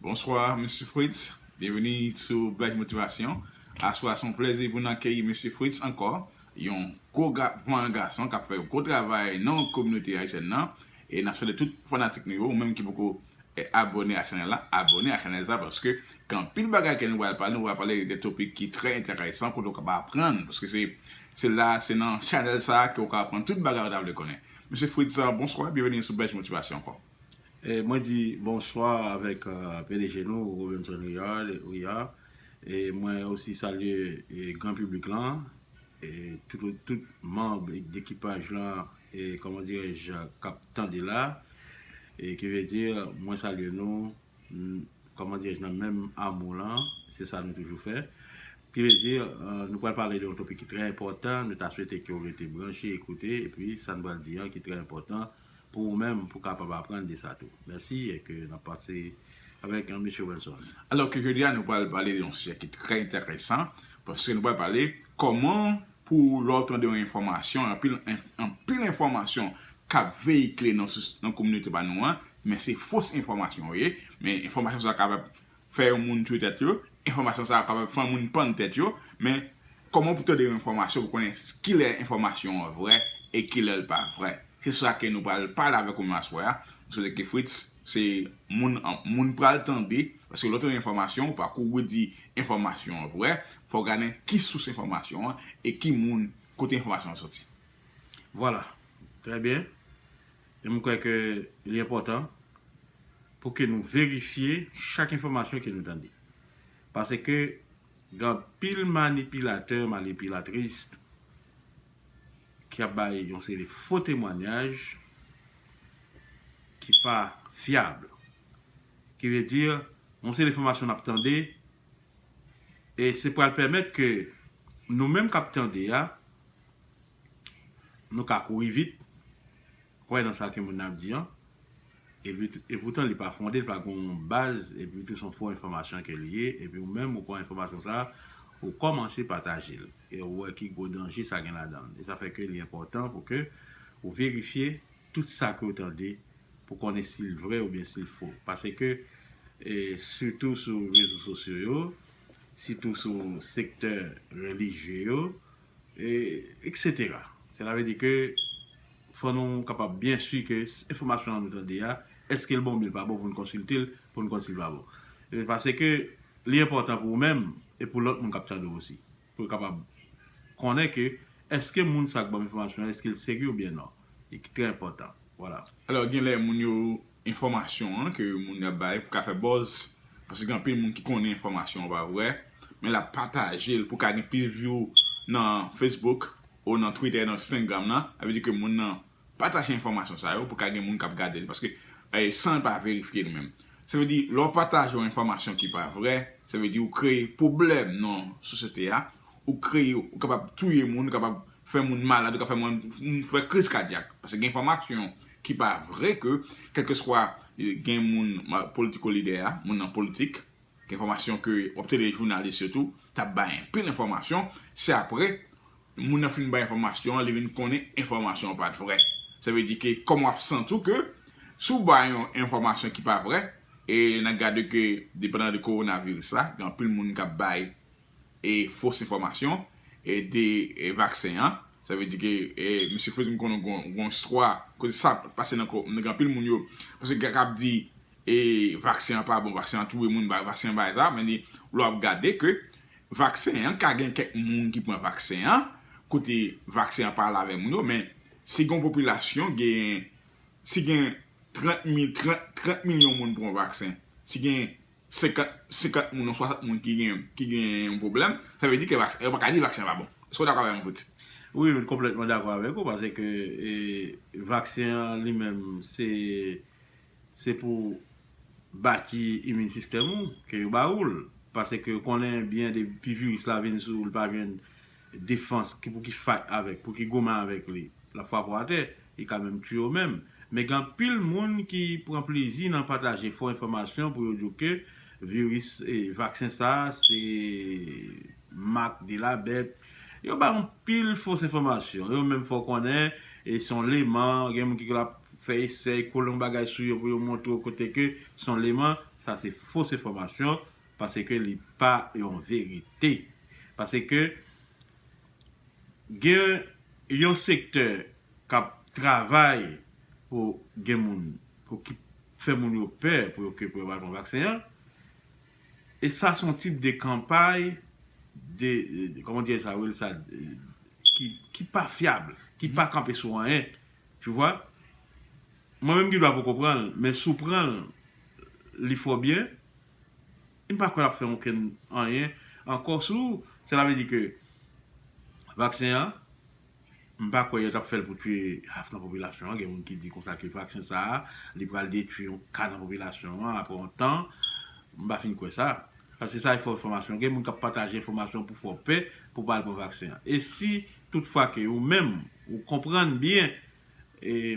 Bonsoir Mesye Fritz, byenveni sou Black Motivation. Aswè a se yon plèzi pou n akeyi Mesye Fritz ankò, yon gwo vayan gason k ap fè yon gwo travay nan kominote ayisyèn nan. E n ap swete tout fanatik nou yo, ou menm ki poko abòne a chanèl la, abòne a chanèl sa a paske gen anpil bagay ke nou pral pale, nou pral pale de topik ki trè enteresan kote ou kapab aprann paske se la, se nan chanèl sa a ke ou ka aprann tout bagay ou ta vle konnen. Mesye Fritz, bonswa, byenveni sou Black Motivation ankò. Mwen di bonswa avèk pdg nou Robinson Riyad e mwen osi salye gran piblik lan e tout manb dekipaj lan e kòman dirèj kap tande la e ki vle di mwen salye nou kòman dirèj nan menm amou lan se sa nou toujou fè ki vle di nou pral pale de yon topik ki trè enpòtan nou ta swete ke ou rete branche e koute e pi sa nou pral di an ki trè enpòtan. pou ou menm pou kapab aprann de sa tou. Mèsi e ke n ap pase avèk an Mesye Wilson. Alò ke jodi a nou pral pale de yon sijè ki trè enteresan, paske nou pral pale kòman pou lè w tande yon enfòmasyon, anpil anpil enfòmasyon k ap veyikile nan kominote pa nou an, men se fos enfòmasyon yo ye, men enfòmasyon sa kapab fè yon moun twe tèt yo, enfòmasyon sa a kapab fè yon moun pann tèt yo, men kòman pou tande yon enfòmasyon pou konnen kilè enfòmasyon an vrè e kilè l pa vrè. Se sa ke nou pral pale avèk ou menm aswè a, m swete ke Fritz se moun moun pral tande, paske lè w tande enfòmasyon ou pa kouri di enfòmasyon an vrè, fò w gade ki sous enfòmasyon an e ki moun kote enfòmasyon an soti. Vwala. Trè byen. E m kwè ke li enpòtan pou ke nou verifye chak enfòmasyon ke nou tande. Pase ke gen anpil manipilatè, manipilatris ki ap bay yon seri de fo temwanyaj ki pa fyab. Ki vle di, yon seri de enfòmasyon n ap tande e se pral pèmèt ke nou menm k ap tande a Nou ka kouri vit, kwè nan sa ke moun nan ap di an, e poutan li pa fonde, li pa gen yon baz, epi tou se yon fo enfòmasyon ke li ye, epi ou menm ou pran enfòmasyon sa a, ou kòmanse pataje l, e ou wè ki gwo danje sa gen ladan l. E sa fè ke li enpòtan pou ke ou verifye tout sa ke ou tande, pou konnen si l vrè oubyen si l fo. Pase ke, sitou sou rezo sosyo yo, sitou sou sektè relijye yo, Etc. Sela vle di ke fò nou kapab byen si ke enfòmasyon an nou tande a, eske l bon oubyen l pa bon pou n konsilte l, pou n konn si l va bon. Paseke li enpòtan pou ou menm e pou lòt moun k ap tande w osi. Pou yo kapab konnen ke eske moun sa k ban m enfòmasyon an eske l serye oubyen non. Li trè enpòtan. Vwala. Alò genlè moun yo enfòmasyon an ke moun yo ap bay pou ka fè buzz paske gen anpil moun ki konnen enfòmasyon an pa vrè men lap pataje l pou ka gen plis view nan Facebook ou nan Twitter nan Stengram nan sa vle di ke moun nan pataje enfòmasyon sa yo pou ka gen moun kap gade l paske san l pa verifye li menm sa vle di lè w pataje yon enfòmasyon ki pa vrè sa vle di ou kreye pwoblèm nan sosyete a ou kreye ou kapab touye moun ou kapab fè moun malad ou kapab fè moun fè kriz kadyak paske gen enfòmasyon Ki pa vre ke kelkeswa gen moun politiko lidè a, moun nan politik, gen enfomasyon ke wap tele jounalis yo tou tap bay anpil enfomasyon, se apre moun nan fin bay enfomasyon an li vin konnen enfomasyon an pat vre. Sa vle di ke kòm wap santi w ke si w bay yon enfomasyon ki pa vre e nan gade ke depandan de koronaviris la gen anpil moun kap bay e fos enfòmasyon e de vaksen an sa vle di ke e misye fè nou konnen gon gon istwa kote sa pase nan kò nan anpil moun yo paske gen kap di e vaksen an pa bon vaksen an touye moun vaksen an bay sa men ni lè wap gade ke vaksen an ka gen kèk moun ki pran vaksen an kote vaksen an pa al avè moun yo men si gon popilasyon gen si gen 30 mil 30 milyon moun pran vaksen si gen. 50 50 moun ou 60 moun ki gen ki gen yon pwoblèm sa vle di ke vaksen yo pa ka di vaksen an pa bon èske ou dakò avèm Fritz? Wi m konplètman dakò avèk ou paske vaksen an li menm se se pou bati imin sistèm ou ke yo ba ou l paske yo konnen byen depi viris la vin sou ou l pa jwenn Defans ki pou ki fight avèk pou ki goumen avèk li lap frape w atè li ka menm tuye w menm men gen anpil moun ki pran plezi nan pataje fo enfòmasyon pou yo di w ke viris vaksen sa se mak de la bèt yo bay anpil fos enfòmasyon yo menm fè w konnen se yon leman gen moun ki lap fè esèy kole yon bagay sou yo pou yo montre w kote ke se yon leman sa se fos enfòmasyon Paske li pa yon verite. Paske gen yon sektè k ap travay pou gen moun, pou ki fè moun yo pè pou yo ke pou yo pa al pran vaksen an. E sa s on tip de kanpay de, kòman dirè sa Will sa, ki pa fyab, ki pa kanpe sou anyen. Tu vwa? Mwen menm ki dwa poko pran l, men si w pran l, li fè w byen. M pa kwè lap fè onkenn anyen ankò sou sela vle di ke vaksen an m pa kwè yo tap fèl pou tye half nan popilasyon an gen moun ki di konsa ke vaksen sa li pral detwi yon ka nan popilasyon an aprè yon tan m pa fin kwè sa paske sa e fo enfòmasyon gen moun kap pataje enfòmasyon pou fè w pè pou pa al pran vaksen an e si tout fwa ke ou menm ou konprann byen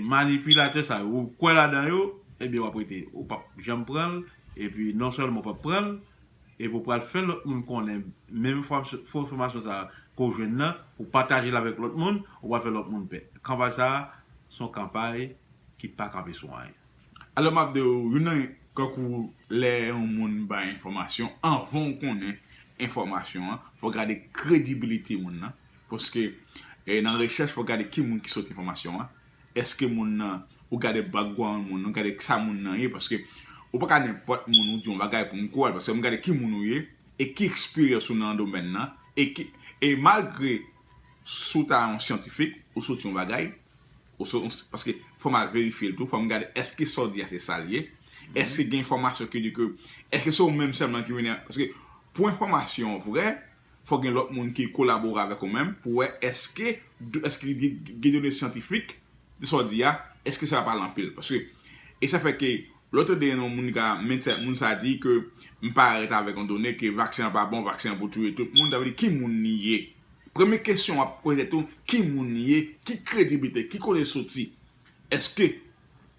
Manipilatè sa yo ou kwè ladan yo ebyen wap rete ou pap janm pranl epi non sèlman ou pap pranl epi ou pral fè lòt moun konnen menm fo enfòmasyon sa ke w jwenn nan ou patajel avèk lòt moun ou pral fè lòt moun pè kanpay sa son kanpay ki pa kanpe sou anyen. Alò map diw youn nan kankou lè yon moun bay enfòmasyon anvan ou konnen enfòmasyon an fò gade kredibilite moun nan. Paske nan rechèch fòk gade ki moun ki sot enfòmasyon an, eske moun nan, ou gade background moun nan, gade sa moun nan ye, paske ou pa ka nenpòt moun ou di yon bagay pou m kwèl, paske m gade ki moun ou ye, e ki eksperyans ou nan domèn nan, e ki, e malgre si w ta yon syantifik, ou soti yon bagay, ou soti yon, paske fò m al verifye l tou, fò m gade eske sa w di a se sa l ye, eske gen enfòmasyon ki di ke, eske se ou menm sèlman ki vini a, paske pou enfòmasyon vrè, fòk gen lòt moun ki kolabore avèk ou menm pou wè èske èske li gen done syantifik de sa w di a, èske sa pa al anpil. Paske e sa fè ke lè w tande yon moun ka medsen moun sa di ke m pa ret avèk yon done ke vaksen an pa bon, vaksen an pou touye tout moun, sa vle di ki moun li ye? Premye kesyon w ap poze tèt ou, ki moun li ye? Ki krediblite? Ki kote l soti? Eske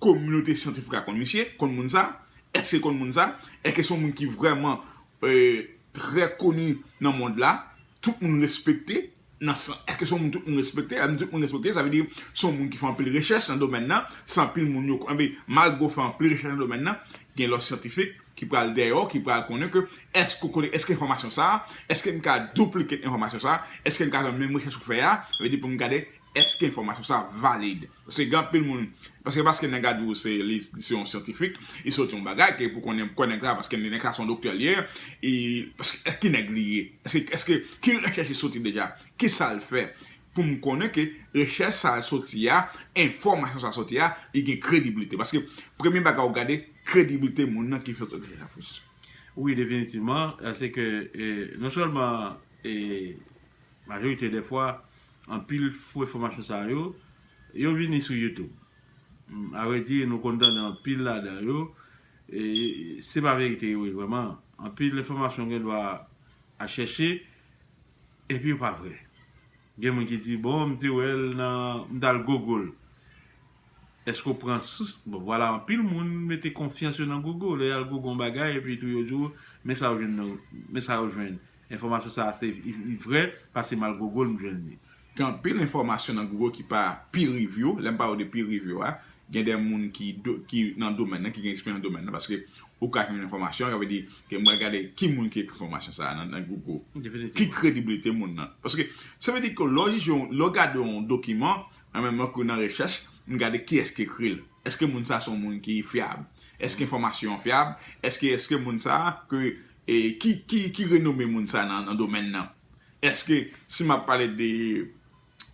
kominote syantifik la konn misye, konn moun sa? Eske konn moun sa? Eke son moun ki vreman trè koni nan mond la, tout moun respekte nan san, eske son moun tout moun respekte? Lè nou di tout moun respekte, sa vle di son moun ki fè anpil rechèch nan domèn nan, se anpil moun yo konnen, malgre ou fè anpil rechèch nan domèn nan, gen lòt syantifik ki pral dèyè w, ki pral konnen ke eske ou konnen, eske enfòmasyon sa, eske m ka duplicate enfòmasyon sa, eske m ka fè menm rechèch ou fè a, sa vle di pou m gade Eske enfomasyon sa valid? Paske gen anpil moun paske paske nèg la di w se li se yon syantifik li soti yon bagay ke pou konnen kò nèg la paske nèg sa se yon doktè li ye e paske eske ki nèg li ye eske eske ki rechèch li soti deja kisa l fè pou m konnen ke rechèch sa l soti a enfomasyon sa l soti a li gen krediblite paske premye bagay ou gade krediblite moun nan ki fè rechèch la fous. Wi definitivman se ke non sèlman e. Majorite de fwa, anpil fo enfòmasyon sa yo, yo vini sou YouTube. A vrè di, nou konn tande anpil ladan yo, e se pa verite yo ye vrèman. Anpil enfòmasyon gen dwa a chèche, epi yo pa vrè. Gen moun ki di, bon, m te wè l nan, m t al gogo l. Eske w pran sous, bon vwala anpil moun mete konfyans yo nan Gogo, lè yal Gogo yon bagay epi tou yo di w men sa yo jwenn nan, men sa yo jwenn, enfòmasyon sa se li vrè pase mal Gogo l m jwenn li. Gen anpil enfòmasyon nan Gogo ki pa peer review, lè m pale w de peer review a, gen de moun ki do, ki nan domèn nan, ki gen eksperyans nan domèn nan, paske ou ka jwenn enfòmasyon, sa vle di ke mwen gade ki moun ki ekri enfòmasyon sa nan nan Gogo, ki krediblite moun nan, paske sa vle di ke lè w jije yon, lè w gade yon dokiman, An menm tan ke nan rechèch, m gade kiyès ki ekri l. Eske moun sa se yon moun ki fyab? Eske enfòmasyon an fyab? Eske eske moun sa ke e ki ki ki renome moun sa nan nan domèn nan? Eske si m ap pale de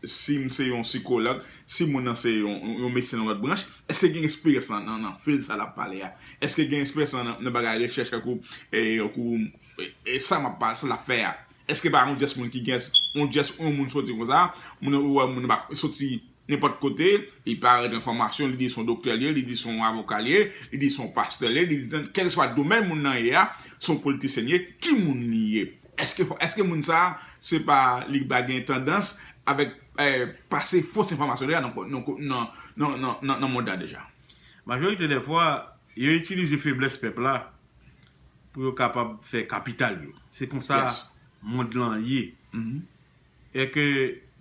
si m se yon sikològ, si moun nan se yon yon medsen nan lòt branch, eske l gen eksperyans nan nan nan field sa l ap pale a? Eske l gen eksperyans nan nan bagay rechèch tankou e tankou e sa m ap pale sa l ap fè a? Eske pa yon jès moun ki jès, yon jès yon moun soti konsa, moun nan wè moun nan pa soti nenpòt kote, li pa règle enfòmasyon, li di son doktè li ye, li di son avoka li ye, li di son pastè li ye, li di kèlkeswa domèn moun nan ye a, son politisyen li ye, ki moun li ye? Eske eske moun sa se pa li pa gen tandans avèk pase fos enfòmasyon deja nan nan nan mond la deja? Majorite dè fwa, yo itilize feblès pèp la pou yo kapab fè kapital yo. Se konsa mond lan ye. E ke,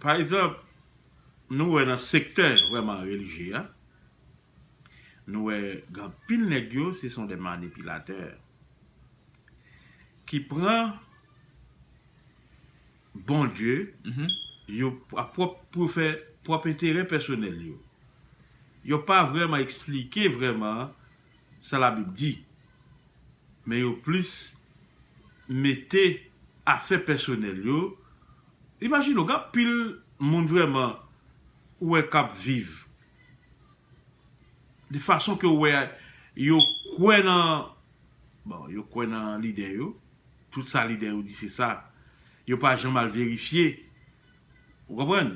pa egzanp, nou wè nan sektè vrèman relijye a, nou wè gen anpil nèg yo se son de manipilatè ki pran Bondye yo a pwòp pou fè pwòp enterè pèsonèl yo. Yo pa vrèman eksplike vrèman sa labib di men yo plis mete afè pèsonèl yo imajine w gen anpil moun vrèman ou wè k ap viv de fason ke w wè yo kwè nan bon yo kwè nan lidè yo tout sa lidè yo di se sa yo pa janm al verifye. Ou konprann?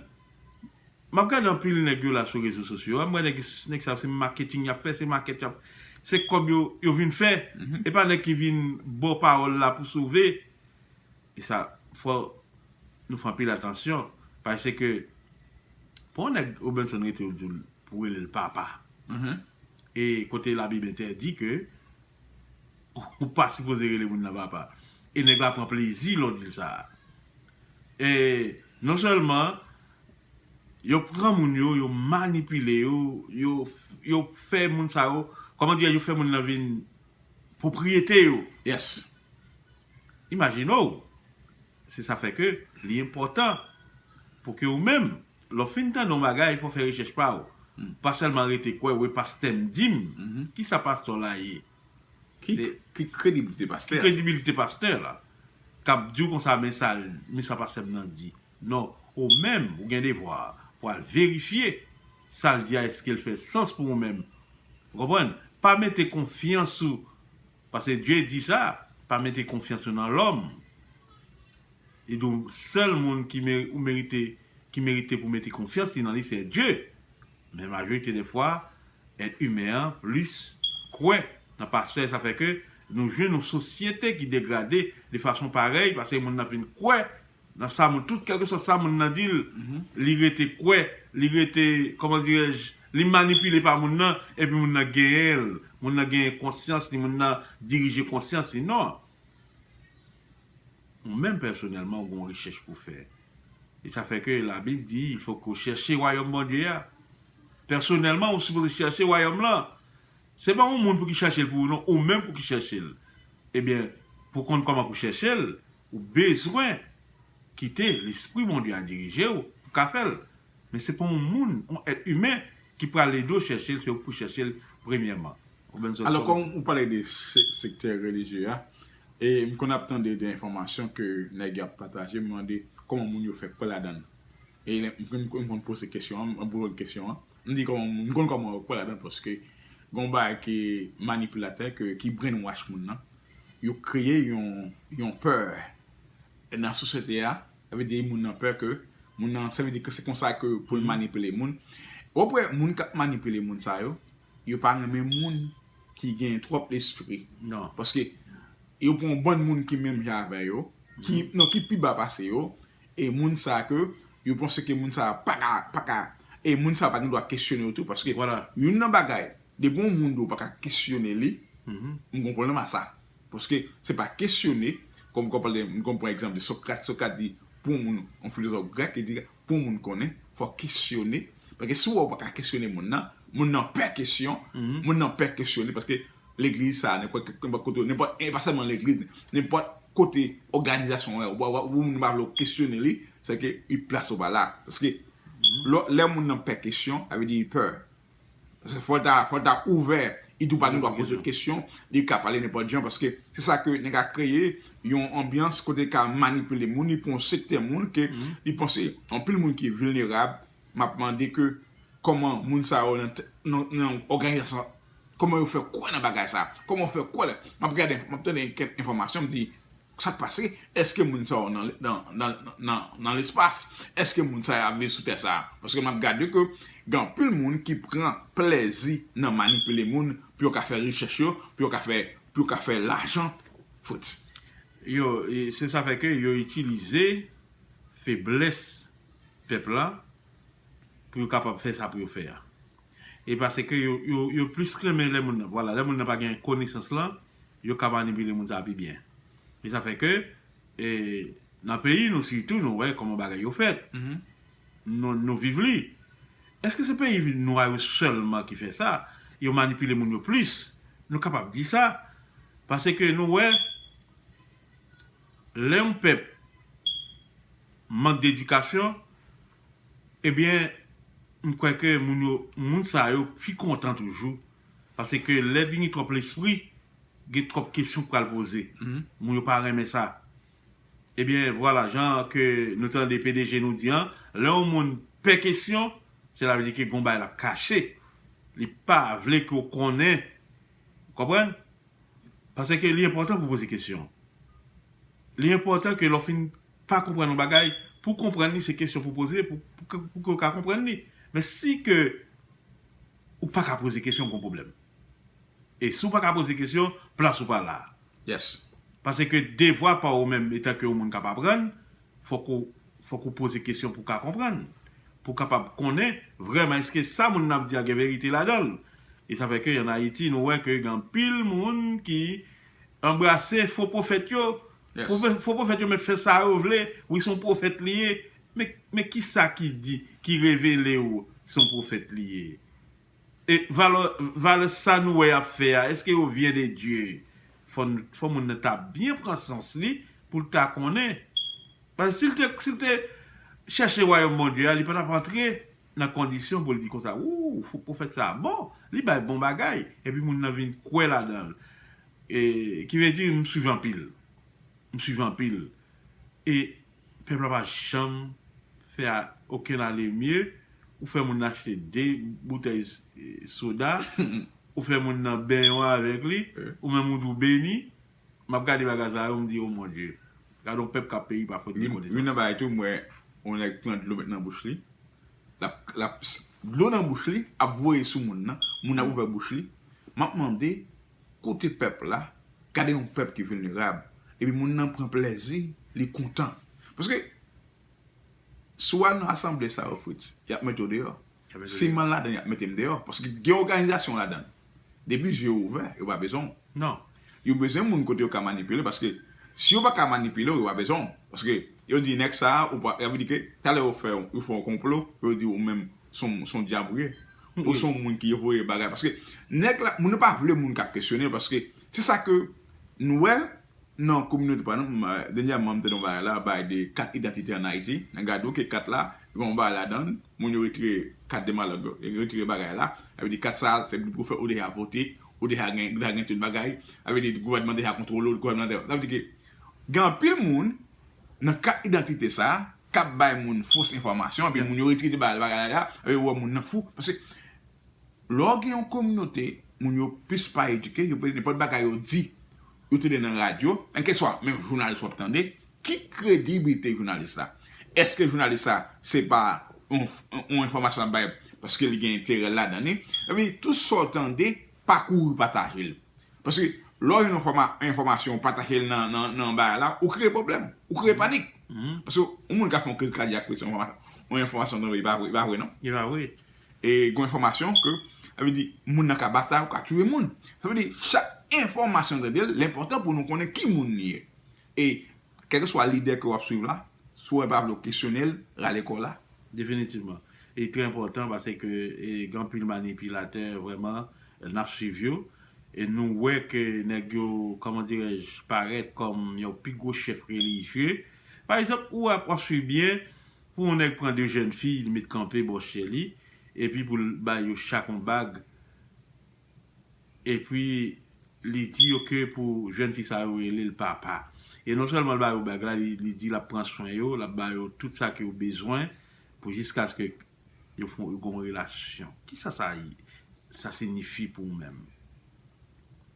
Map gade anpil nèg yo la sou rezo sosyo a, m wè nèg yo, nèg sa yo se maketing yap fè, se makèt yap, se kòb yo, yo vin fè, e pa nèg ki vin ba w pawòl la pou sove. E sa, fò nou fè anpil atansyon, paseke pou yon nèg Robinson rete yo di l pou rele l papa, e kote labib entèdi ke Ou pa sipoze rele moun nan papa. E nèg la pran plezi lè w di l sa. E non sèlman yo pran moun yo, yo manipile yo, yo fè moun sa yo, kòman dirè yo fè moun nan vin pwopriyete yo. Yes. Imajine w. Se sa fè ke li enpòtan pou ke ou menm, lè w fin tande yon bagay, fò w fè rechèch pa ou. Pa sèlman rete kwè, wi pastè m di m. Ki sa pastè w la ye? Ki krediblite pastè a? Ki kredibilite pastè la? K ap di w konsa men sa l, men sa pastè m nan di. Non, ou menm, ou gen devwa pou al verifye sa l di a èske l fè sans pou ou menm. Ou konprann? Pa mete konfyans ou. Pase Dye di sa, pa mete konfyans nou nan lòm. Li di w sèl moun ki ou merite ki merite pou mete konfyans li nan li se Dye. Men majorite dè fwa èt imen an plis kwè nan pastè sa fè ke nou jwenn yon sosyete ki degrade de fason parèy pase moun nan fin kwè Nan sa moun, tout kèlkeswa sa moun nan di l, li rete kwè, li rete, kòman dirè j, li manipile pa moun nan, epi moun nan genyen l, moun nan genyen konsyans li, moun nan dirije konsyans li. Non! Ou menm pèsonèlman ou gen yon rechèch pou w fè. E sa fè ke Labib di, il fò ke w chèche wayòm Bondye a. Pèsonèlman ou sipoze chèche wayòm lan. Se pa yon moun pou ki chèche l pou ou non, ou menm pou ki chèche l. Ebyen, pou w konn kòman pou w chèche l, Ou bezwen kite Lespri Bondye a dirije w pou ka fè l. Men se pa yon moun, yon èt imen ki pral ede w chèche l, se ou ki pou chèche l premyèman. Alò kòm ou pale de sektè relijye a, e m konn ap tande de enfòmasyon ke nèg yo ap pataje, m mande kòman moun yo fè kwè ladan l. E m konn poze kesyon an, m ap repon kesyon an, m di kòman moun, m konn kòman yo kwè ladan l paske gen yon bagay ki manipilatè, ki brainwash moun nan, Yo kreye yon pè nan sosyete a, sa vle di moun nan pè ke moun nan, sa vle di ke se konsa ke pou l manipile moun. Wap wè moun kap manipile moun sa yo, yo pa renmen moun ki gen twòp lespri. Paske yo pran yon bann moun ki menm jan avè yo, non ki pi ba pase yo, e moun sa ke yo panse ke moun sa paka, e moun sa pa gen dwa kesyone yo tou paske youn nan bagay. Depi yon moun di ou pa ka kesyone li, m gen pwoblèm a sa. Paske se pa kesyone, kòm kòm pale, m konn pran egzanp de Socrate, Socrate di pou yon moun, yon filozòf grèk, li di pou yon moun konnen, fò w kesyone. Paske si w wè ou pa ka kesyone moun nan, moun nan pè kesyon, moun nan pè kesyone paske legliz sa a, nenpòt nenpòt kote, nenpòt e pa sèlman legliz, nenpòt kote òganizasyon an, ou pa wè moun nan pa vle ou kesyone li, sèke li plas ou pa la. Paske lè moun nan pè kesyon, sa vle di li pè. Fòl ta ouvè idou pa gen dwa poze kesyon li ka pale nenpòt jan paske se sa ke nèg a kreye yon anbyans kote ka manipile moun li pou yon sektè moun ke li panse anpil moun ki vilnerab map mande ke kòman moun sa yo nan òganizasyon kòman yo fè kwè nan bagay sa kòman yo fè kwè map gade map tande kèk enfòmasyon m di Sa k pase? Èske moun sa yo nan lespas? Èske moun sa yo ap viv sou tè sa a? Paske m ap gade ke gen anpil moun ki pran plèzi nan manipile moun pou yo ka fè rechèch yo, pou yo ka fè, pou yo ka fè lajan fout. Yo, se sa fè ke yo itilize feblès pèp la pou yo kapab fè sa pou yo fè a. E pase ke yo, yo plis renmen lè moun nan, vwala, lè moun nan pa gen konesans lan, Yo ka manipile moun sa pi byen. E sa fè ke nan peyi nou sitou nou wè kòman bagay yo fèt. Nou viv li. Eske se peyi nwa yo sèlman ki fè sa? Yo manipile moun yo plis. Nou kapab di sa. Pase ke nou wè lè yon pèp mank dedikasyon, Ebyen m kwè ke moun yo moun sa yo pi kontan toujou pase ke lè vin gen twòp lespri gen twòp kesyon k pral poze moun yo pa renmen sa ebyen vwala jan ke nou tande pdg nou di an lè yon moun pè kesyon sela vle di ke gon bagay lap kache li pa vle ke w konnen ou konprann pase ke li enpòtan pou poze kesyon li enpòtan ke lè w fin pa konprann yon bagay, pou konprann li se kesyon pou poze pou ke ou ka konprann li. Men si ke ou pa ka poze kesyon gon pwoblèm. E si ou pa ka poze kesyon, plas ou pa la. Yes. Pase ke devwa pa ou menm etan ke yon moun kap aprann, fòk ou fòk ou poze kesyon pou ka konprann. Pou kapab konnen vrèman eske sa moun nan ap di a gen verite ladan l. E sa fè ke an Ayiti nou wè ke gen anpil moun ki anbrase fo pwofèt yo Fo pwofèt yo mèt fè sa yo vle wi son pwofèt li ye men kisa ki di ki revele ou son pwofèt li ye e valè sa nou wè yap fè a eske yo vient de Dieu fò moun nan ta byen pran sans li poul ta konnen paske sil te chèche wayòm Bondye a li patap antre nan kondisyon pou l di konsa ooh fo pwofèt sa a bon li bay bon bagay epi moun nan vin kwè ladan l e ki vle di m swiv anpil m swiv anpil e pèp la pa janm fè okenn alemye ou fè moun nan achte 2 boutèy soda ou fè moun nan benyon avèk li ou menm ou di w beni Map gade bagay sa yo m di oh mon Dieu gadon pèp kap peri pa fot de konesans. Youn nan bagay tou m wè yon nèg pran dlo met nan bouch li lap dlo nan bouch li ap voye sou moun nan moun nan ap ouvè bouch li map mande kote pèp la gade yon pèp ki vilnerab epi moun nan pran plèzi li kontan paske si w al nan asanble sa yo Fritz yap mete w deyò siman ladan yap mete m deyò paske gen oganizasyon ladan Depi zye yo ouvè, yo pa bezwen w. Non. Yo bezwen moun kote yo ka manipile paske si yo pa ka manipile w yo pa bezwen w. Paske yo di nèg sa a ou pa, sa vle di ke talè yo fè yo fè yon konplo pou yo di ou menm son son dyab ou ye. Ou son moun ki voye bagay paske nèg la moun yo pa vle moun k ap kesyone yo paske se sa ke nou wè Nan kominote pa nou, dènyèman m tande yon bagay la, bagay de kat idantite an Ayiti. Nan gade ou ke kat la, gen yon bagay ladan l, moun yo retire kat de malòt yo, yo retire bagay la. Sa vle di kat sa, se pou fè ou deja vote, ou deja gen, ou deja gen tout bagay. Sa vle di gouvènman deja kontwole w, gouvènman deja, sa vle di ke gen anpil moun nan kat idantite sa k ap bay moun fos enfòmasyon epi moun yo retire ti bagay la, sa vle di yo wè moun nan fou paske Lè w gen yon kominote, moun yo plis pa edike, yo pede nenpòt bagay yo di, yo tande nan radyo, nan keswa menm jounalis w ap tande, ki krediblite jounalis la? Eske jounalis la se pa yon enfòmasyon l ap bay paske li gen enterè l ladan li? Epi tou sa w tande, pa kouri pataje l. Paske lè w jwenn yon enfòmasyon ou pataje l nan bagay la, ou kreye pwoblèm, ou kreye panik. Paske yon moun ka fè yon kriz kadyak pou l se yon enfòmasyon w tande, li pa vre non. Li pa vre. E gon enfòmasyon ke, sa vle di moun nan ka batay ou ka tiye moun. Sa vle di chak enfòmasyon nou tande l, l enpòtan pou nou konnen ki moun li ye. E kèlkeswa lidè ke w ap swiv la, si w pa vle w kesyone l, rale kò w la. Definitivman. Li trè enpòtan pase ke gen anpil manipilatè vrèman n ap swiv yo. E nou wè ke nèg yo, kòman dirèj, parèt kòm yon pi gwo chèf relijye. Pa egzanp, ou wè w ap swiv byen, Pou yon nèg pran 2 jèn fi li met kanpe bò chè li epi pou l bay yo chak yon bag epi li di yo ke pou jèn fi sa yo rele l papa e non sèlman l ba yo bag la li di l ap pran swen yo l ap ba yo tout sa ke yo bezwen pou jiskaske yo fon yo gen yon relasyon kisa sa sa sinifi pou ou menm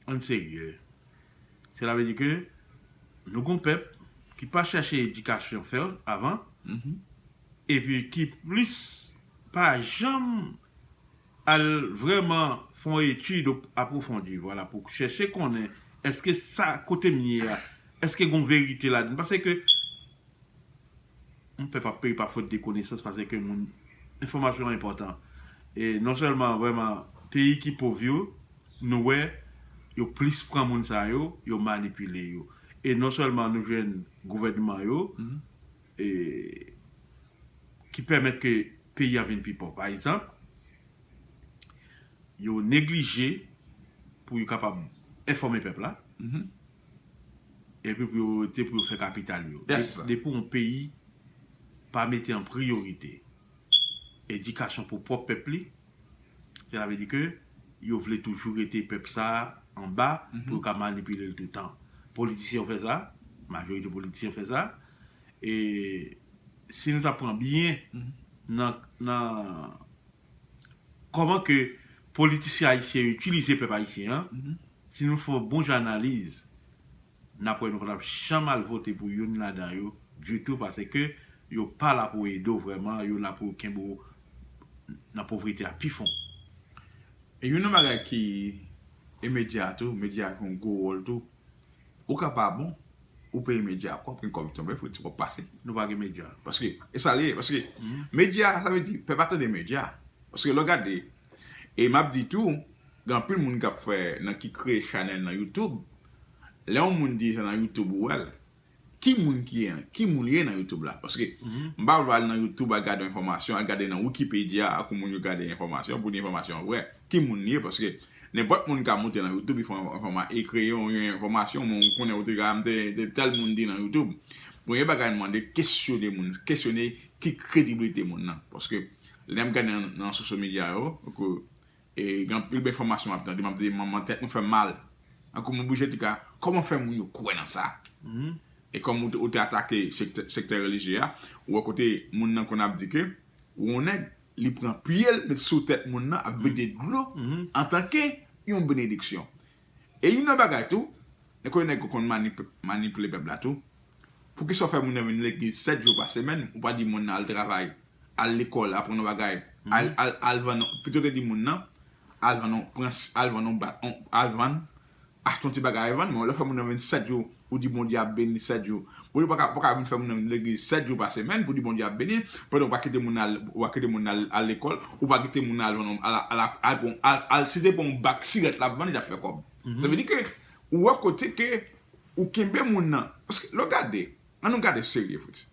ann serye Sela vle di ke nou gon pèp ki pa chache edikasyon fèl avan epi ki plis pa janm al vrèman fè yon etid apwofondi vwala pou chèche konnen eske sa kotem ye a eske gon verite ladann pase ke Humm pèp ap peri pa fot de konesans pase ke moun enfomasyon enpotan e non selman vreman peyi ki pov yo nou wè yo plis pran moun sa yo yo manipile yo e non selman nou jwenn gouvènman yo e ki pèmèt ke peyi a vin pi pov pa ekzanp yo neglije pou yo kapab enfome pèp la Epi pou yo rete pou yo fè kapital yo. Depi yon peyi pa mete an priyorite edikasyon pou pwòp pèp li, sela vle di ke yo vle toujou rete pèp sa a anba pou yo ka manipile l toutan. Politisyen yo fè sa, majorite politisyen fè sa. E si nou ta pran byen nan. Kòman ke politisyen ayisyen yo itilize pèp ayisyen an, si nou fè yon bon jan analiz, n ap wè nou pa t ap janm al vote pou youn ladan yo ditou paske yo pa la pou ede w vrèman, yo la pou yo kenbe w nan povrete a pi fon. E youn nan bagay ki, e medya tou, medya jwe yon gwo wòl tou. Ou ka pa bon, ou peye medya a kòb, gen kòb ki tonbe, fòk gen ti kòb pase. Nou pa gen medya. Paske, e sa li ye, paske medya a, sa vle di, pèp a tande medya. Paske lè w gade, e m ap di tou, gen anpil moun k ap fè, nan ki kreye chanèl nan youtube, lè yon moun di sa nan youtube ou wè l, Ki moun ki ye an? Ki moun ye nan youtube la? Paske m pa vle al nan youtube al gade yon enfòmasyon, al gade nan wikipedya ak yon moun yo gade enfòmasyon pou di enfòmasyon an vrè. Ki moun li ye? Paske nenpòt moun ka moute nan youtube e fè yon enfòma e kreye yon enfòmasyon men ou konnen ou te ka mte te tèl moun di nan youtube. Premye bagay m mande kesyone moun, kesyone ki krediblite moun nan. Paske lè n ap gade nan sosyo medya yo ke Gen anpil bèl fòmasyon map tande map di manman tèt mwen fèm mal tankou mwen oblije di ka kòman fè moun yo kwè nan sa e kòm ou te atake sektè relijye a ou wè kote moun nan konn ap di ke ou yon nèg li pran pyel met sou tèt moun nan ap vide dlo antanke yon benediksyon E youn nan bagay tou, e konnen nèg yo konn manipile pèp la tou, poukisa ou fè moun nan vin legliz 7 jou pa semèn, ou pa di moun nan al travay, al lekòl, aprann yon bagay, al vann yon, pito te di moun nan, al vann yon, al vann yon bat, al vann, achte yon ti bagay vann, men ou lè fè moun nan vin 7 jou Ou di Bondye ap beni 7 jou. Bondye paka paka vin fè moun nan vin legliz 7 jou pa semèn pou di Bondye ap beni, pandan ou pa kite moun nan al ou pa kite moun nan al lekòl, ou pa kite moun nan al vann al al ap al pran al al si se pa yon bak sirèt lap vann li tap fè kòb. Sa vle di ke ou wè kote ke ou kenbe moun nan, paske lè w gade, an nou gade serye Fritz,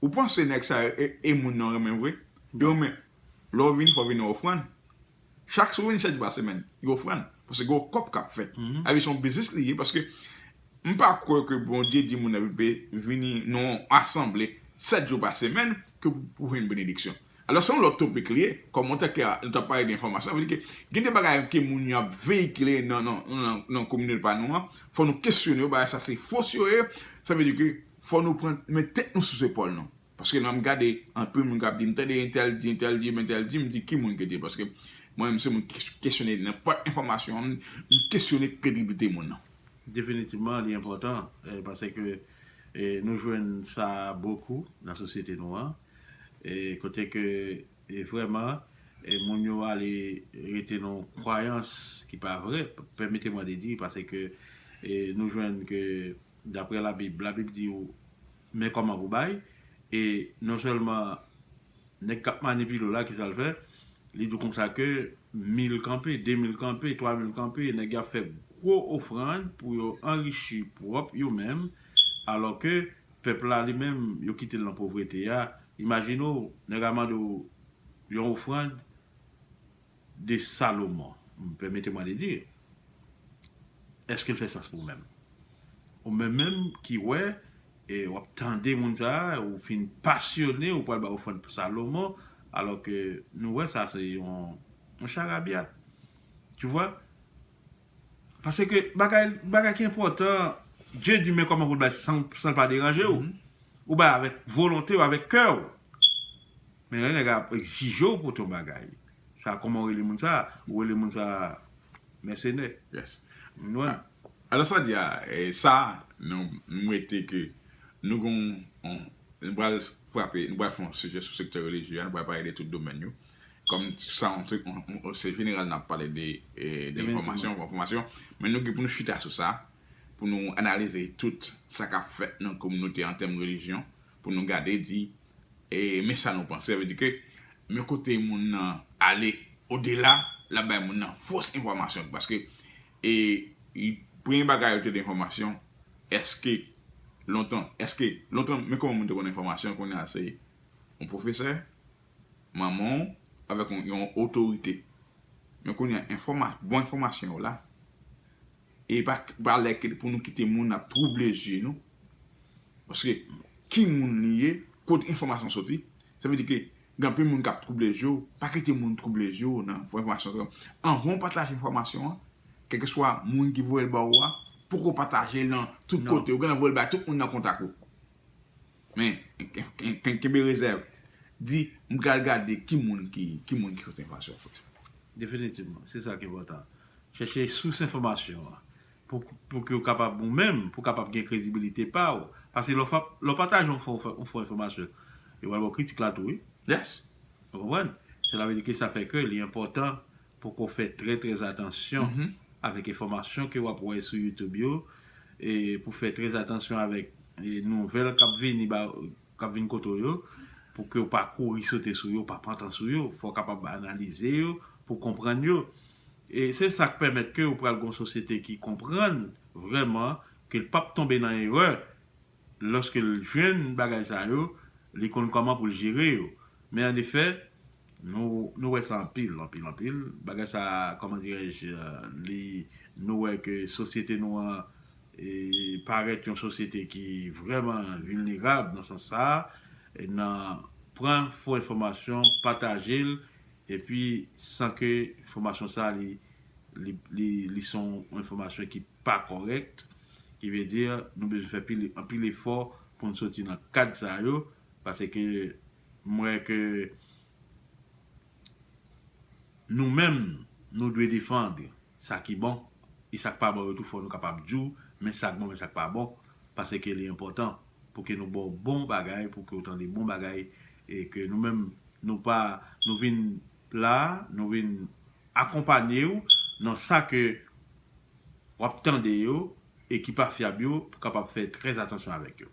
ou panse nèg sa yo e e moun nan renmen vre? Yo renmen lè w vini fò w vini ak ofrann, Chak sou Winsèt jou a semèn yon ofrann paske gen yon kòb kap fèt sa vle se yon biznis li ye paske m pa kwè ke Bondye di moun nan vle vini nan yon asanble 7 jou pa semèn ke pou jwenn benediksyon alò se yon lòt topik li ye kòm antanke nou tap pale de enfòmasyon sa vle di ke gen de bagay ke moun yo ap veyikile nan kominote pa nou an fò nou kesyone yo bagay sa se fos yo ye sa vle di ke fò nou pran met tèt nou sou zepòl nou. Paske lèm gade anpil moun kap di mtande entèl di entèl di entèl di mdi ki moun ki di paske mwen menm se moun ki kesyone nenpòt enfòmasyon mkesyone krediblite moun nan. Definitivman li enpòtan pase ke nou jwenn sa bokou nan sosyete nou an kote ke vrèman moun yo ale rete nan yon kwayans ki pa vre pèmete mwen de di pase ke nou jwenn ke daprè labib, labib di Men kòman pou bay, e non sèlman nèg k ap manipile w la ki sa l fè, li di w kon sa ke mil kanpe, de mil kanpe, twa mil kanpe, nèg yo ap fè gwo ofrann pou yo anrichi pwòp yo menm, alò ke pèp la li menm yo kite l nan povrete a, imajine w nèg a mande w yon ofrann, de Salomon, permettez-moi de dire, est-ce qu'il fait sens pou ou menm? Ou menm menm ki wè e w ap tande moun sa a, ou fin pasyone, ou pral bay ofrann pou Salomon, alò ke nou wè sa se yon charabya. Tu vois? Pase ke bagay bagay ki enpòtan Dye di men kòman pou l bay san l pa deranje w ou bay avèk volonte w avèk kè w men lè nèg la ap egzije w pou ton bagay sa kòman w rele moun sa ou rele moun sa mèsenè alò sa w di a sa nou mete ke nou gen yon nou pral frape nou pral fè yon sijè sou sektè relijye a nou pral pale de tout domèn yo Kòm sa yon trik, se jeneral nap pale de enfòmasyon, enfòmasyon, men nou gen pou nou chita sou sa, pou nou analize tout sa kap fèt nan kominote an tèm relijyon, pou nou gade di, men sa nou panse, sa vle di ke, men kote moun nan ale odela, lap bay moun nan fos enfòmasyon, paske premye bagay yo te di enfòmasyon, eske lontan, eske lontan men kòman moun te konn enfòmasyon, kounye a se yon pwofesè. manman w avèk yon otorite men kounye a enfòma bon enfòmasyon yo la e pa pa lè ke pou nou kite moun ap twouble je nou paske ki moun li ye kot enfòmasyon soti sa vle di ke gen anpil moun kap twouble je w pa kite moun twouble je w nan fò enfòmasyon sa yo anvan w pataje enfòmasyon an kèlkeswa moun ki voye l ba ou a poko pataje l nan tout kote ou gen dwa voye l bay tout moun nan kontak ou. Men, kenbe rezèv. Di, m pral gade ki moun ki sot enfòmasyon fo sa. Definitivman. Se sa ki enpòtan. Chèche sous enfòmasyon an. Pou ke ou kapab ou menm, pou kapab gen kredibilite pa ou. Paske lè ou pataje yon fo enfòmasyon, yo pral ba ou kritik la tou wi. Yes. Ou konprann? Sela vle di ke sa fè ke li enpòtan Poko fè trè trè atansyon avèk enfòmasyon ke wap wè sou youtube yo e pou fè trè atansyon avèk nouvèl kap vini ba kap vini kote w yo pou ke w pa kouri sote sou yo pa pran tan sou yo fò w kapab analize yo pou konprann yo e se sak pèmèt ke ou pral gon sosyete ki konprann vrèman ke l pap tonbe nan erè lòske l jwenn bagay sa yo li konn kòman pou l jere yo men an efè Nou wè sa anpil, anpil, anpil. Bagay sa a, kòman dirèj, li, nou wè ke sosyete nou an e parèt yon sosyete ki vrèman vilnerab nan sans sa a, nan pran fo enfòmasyon, pataje l, epi san ke enfòmasyon sa a li, li, li, li se yon enfòmasyon ki pa kòrèk, ki vle di nou bezwen fè pil, anpil efò pou n soti nan kad sa yo, pase ke M wè ke nou menm nou dwe defand sa ki bon e sak pa bon yo tou fò nou kapab di w men sak bon men sak pa bon pase ke li enpòtan pou ke nou ba w bon bagay pou ke w tande bon bagay e ke nou menm nou pa nou vin la nou vin akonpanye w nan sa ke wap tande yo e ki pa fyab yo pou kapab fè trè atansyon avèk yo.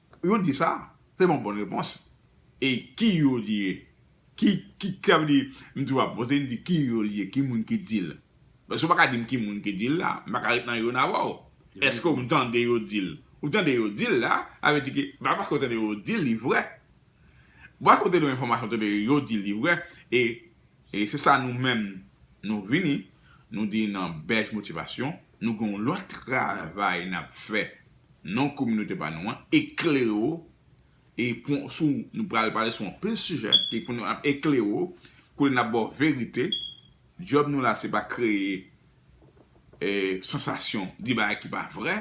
Yo di sa, se yon bon repons. E ki yo li ye? Ki, ki, sa vle di, m toujou ap poze, m di ki yo li ye, ki moun ki di l? Paske ou pa ka di m ki moun ki di l la, m pa ka ret nan yo n avè w. Eske ou tande yo di l? Ou tande yo di l la, sa vle di ke pa paske ou tande yo di l li vrè. Paske ou te gen enfòmasyon, ou tande yo di l li vrè. E E se sa nou menm nou vini, nou di nan Bèj Motivasyon, nou gen yon lòt travay n ap fè nan kominote pa nou an, eklere w e pou sou nou pral pale sou anpil sijè e pou nou ap eklere w, kote n ap ba w verite. Djòb nou la se pa kreye sansasyon, di bagay ki pa vrè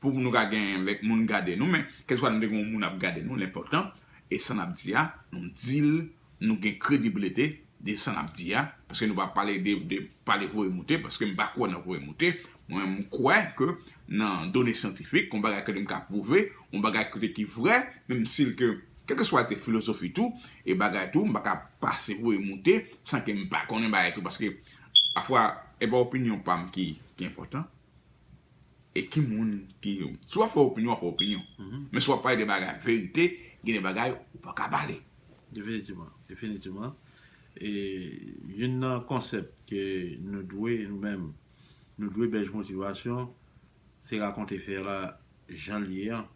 pou nou ka gen lèk moun gade nou men kèlkeswa nou te gen yon moun ap gade nou l enpòtan e sa n ap di a nou di l Nou gen kredibilite de sa nap di a, paske nou pa pale de pale voye moute, paske m pa kwè nan voye moute, mwen menm m kwè ke nan done syantifik, yon bagay ke m ka pwouve, yon bagay kote ki vrè, menm si l ke, kèlkeswa l te filozofi tou, e bagay tou, m pa ka pase voye moute, san ke m pa konnen bagay tou, paske pafwa, e pa opinyon pa m ki enpòtan, e ki moun ki, si w ap fè opinyon, w ap fè opinyon, men si w ap pale de bagay verite, gen de bagay ou pa ka pale. Definitivman, definitivman. E youn nan konsèp ke nou dwe nou menm, nou dwe Bèj Motivasyon, se rakonte fè la jan l ye an,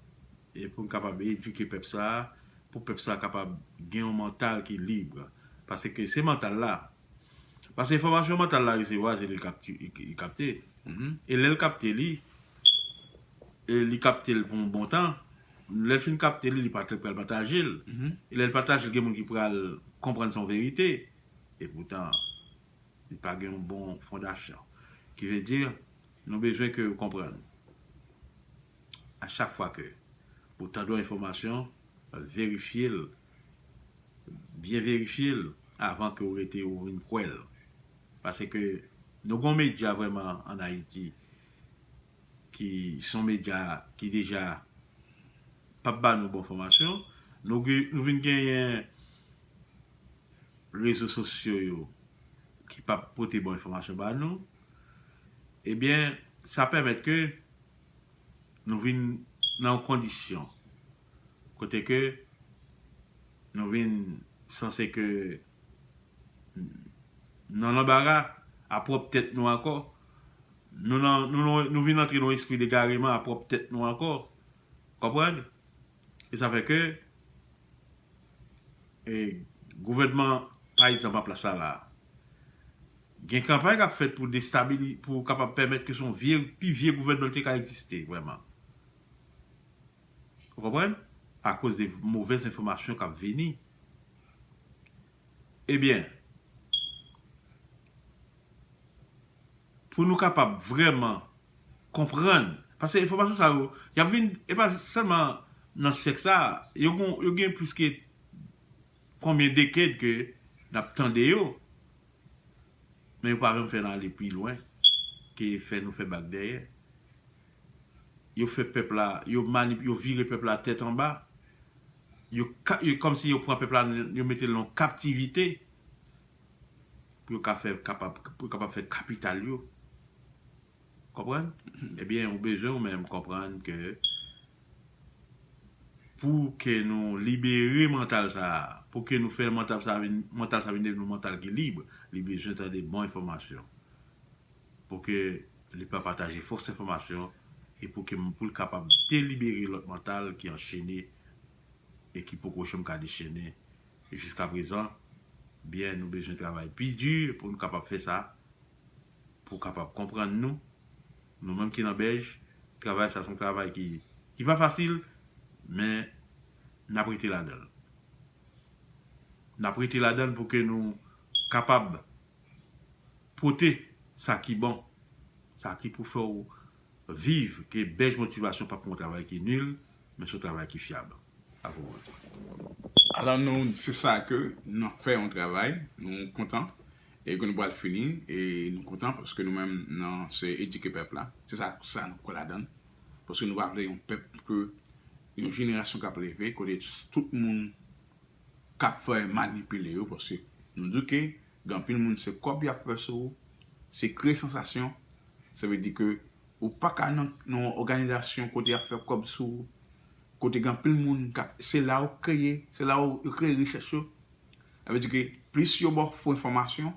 e pou n kapab edike pèp sa a, pou pèp sa a kapab gen yon mantal ki lib. Paske se mantal la, paske enfòmasyon mantal la resevwa se li k kapte, e lè l kapte li, li kapte l pou yon bon tan, Lèl fin kapte li li pa trèt pral patajel e lèl patajel gen moun ki pral konprann son verite e poutan li pa gen yon bon fondasyon ki vle di nou bezwen ke ou konprann a chak fwa ke ou tande yon enfòmasyon verifyel byen verifyel avan ke ou rete ou vin kwèl pase ke nou gon medya vrèman an ayiti ki son medya ki deja pap ba nou bon fòmasyon, nou vin genyen rezo sosyo yo ki pap pote bon enfòmasyon ba nou, ebyen sa pèmèt ke nou vin nan yon kondisyon kote ke nou vin sanse ke. nan lanbara a pwòp tèt nou ankò. Nou nan, nou nan, nou vin antre nan yon espri degareman a pwòp tèt nou ankò. Konprann? E sa fè ke, e, gouvènman pa egzanp an plas la la a, gen kanpay k ap fèt pou destabili, pou kapab pèmèt ke se yon vye, pi vye gouvènman ki te ka egziste vrèman. Ou konprann? Akoz de movèz enfòmasyon k ap vini. Ebyen, pou nou kapab vrèman konprann, paske enfòmasyon sa yo, y ap vin, e pa sèlman nan syèk sa a, yo gen plis ke konbyen deked ke n ap tande yo, men yo pa janm fè n ale pi lwen ke fè nou fè bak dèyè. yo fè pèp la, yo manip, yo vire pèp la tèt anba, yo ka, yo kòm si yo pran pèp la, yo mete l nan kaptivite, pou yo ka fè kapab, pou yo kapab fè kapital yo. Ou konprann? Ebyen, ou bezwen ou menm konprann ke, pou ke nou libere mantal sa a, pou ke nou fè mantal sa a vin, mantal sa a vin devni yon mantal ki lib, li bezwen tande bon enfòmasyon. pou ke li pa pataje fos enfomasyon e pou ke pou l kapab delibere lot mantal ki anchene e ki poko janm ka dechennen jiska prezan byen nou bezwen travay pi di pou nou kapab fè sa pou kapab konprann nou nou menm ki nan bèj travay sa son travay ki ki pa fasil men nap rete ladanl nap rete ladanl pou ke nou kapab. pote sa ki bon, sa ki pou fè w viv ke Bèj Motivasyon pap yon travay ki nil, men se yon travay ki fyab. A vou bonte. Alò nou, se sa ke nou ap fè yon travay, nou kontan e ke nou pral fini e nou kontan paske nou menm nan se edike pèp la, se sa sa nou kwè ladann, paske nou pa vle yon pèp ke yon jenerasyon kap leve kote tout moun kap fè manipile yo paske nou di ke gen anpil moun se kòb yap fè sou ou, se kreye sansasyon, sa vle di ke ou paka nan yon òganizasyon kote yap fè kòb sou ou, kote gen anpil moun kap, se la ou kreye, se la ou kreye richès yo, sa vle di ke plis yo baw fo enfòmasyon,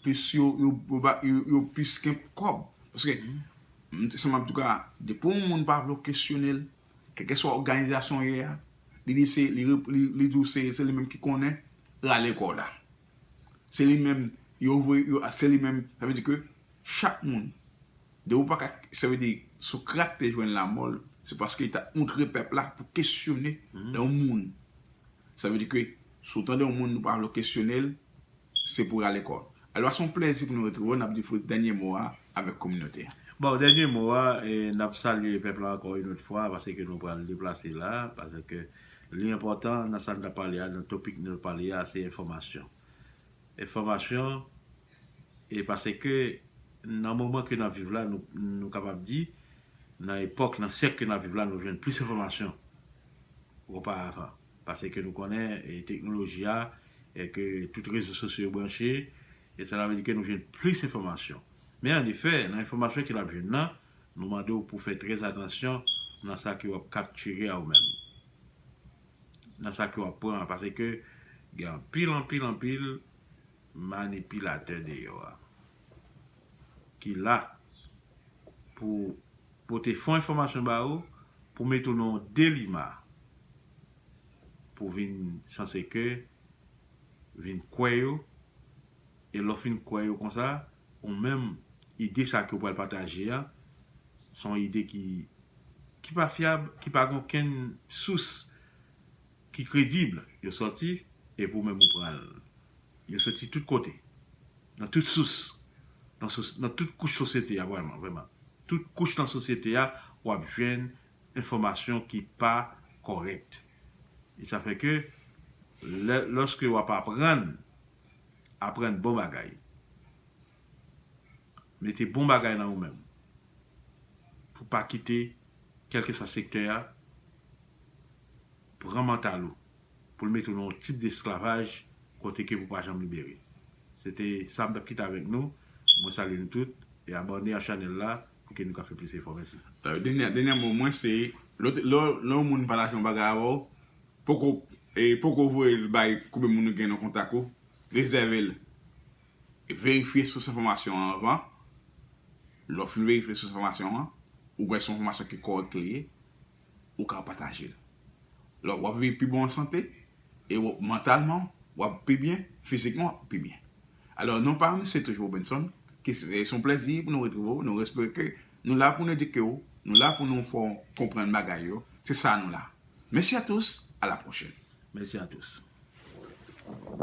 plis yo yo plis gen kòb, paske m te sanm an tou ka depi yon moun pa vle w kesyonel. Kèlkeswa òganizasyon w ye a, li di se li di w se se li menm ki konnen, rale kò w la. Se li menm yo voye yo se li menm sa vle di ke chak moun de ou pa ka sa vle di Socrate te jwenn lamò l se paske li ta ontre pèp la pou kesyone yon moun sa vle di ke si w tande yon moun ou pa vle w kesyone l Se pou rale kò. Alò se yon plèzi pou nou retrouve w, n ap di Fritz dènye mo a avèk kominote a. Bon, dènye mo a, n ap salye pèp la ankò yon lòt fwa paske nou pral deplase la, paske li enpòtan nan sa n t ap pale a, nan topik nou pale a, se enfòmasyon. Enfòmasyon e paske nan moman ke n ap viv la, nou kapab di nan epòk, nan syèk ke n ap viv la, nou jwenn plis enfòmasyon opa avan. pase ke nou konnen e teknoloji a e ke tout rezo sosyo yo branche e sela vle di ke nou jwenn plis enfòmasyon. Men an efè, nan enfòmasyon ke n ap jwenn nan, nou mande w pou fè trè atansyon nan sa ke w ap kaptire a ou menm. Nan sa ke w ap pran a pase ke gen anpil, anpil, anpil manipilatè deyò a ki la pou Pote fon enfòmasyon ba ou pou mete ou nan yon delima pou vin sanse ke vin kwè yo e lè w fin kwè yo konsa ou menm ide sa ke ou pral pataje a son ide ki ki pa fyab ki pa gen okenn sous ki kredib yo sòti epi ou menm ou pran l. Yo soti tout kote, nan tout sous, nan tout kouch sosyete a vrèman, vrèman. Tout kouch nan sosyete a w ap jwenn enfòmasyon ki pa kòrèk. E sa fè ke lè, lòske w ap aprann, aprann bon bagay. Mete bon bagay nan ou menm pou pa kite kèlkeswa sektè a pran mantal ou pou l mete w nan yon tip desklavaj kote ke pou pa janm libere. Se te sa m t ap kite avèk nou. Mwen salye nou tout e abòne a chanèl la pou ke nou ka fè plis efò. Mèsi. Dènyè mo mwen se lè yon moun pataje yon bagay avè w poko voye l bay koube moun ou gen nan kontak ou rezève l Verifye sous enfòmasyon an anvan. Lè w fin verifye sous enfòmasyon an, ou wè si se yon enfòmasyon ki kòrèk li ye, ou ka pataje l. Lò w ap viv pi bon an sante, e mantalman w ap pi byen, fizikman w ap pi byen. Alò non pa m se toujou Robenson, ki se yon plèzi pou nou retrouve w, nou espere ke nou la pou nou edike w, nou la pou nou fè w konprann bagay yo, se sa nou la. Mèsi a tous, a la pwochèn. Mèsi a tous.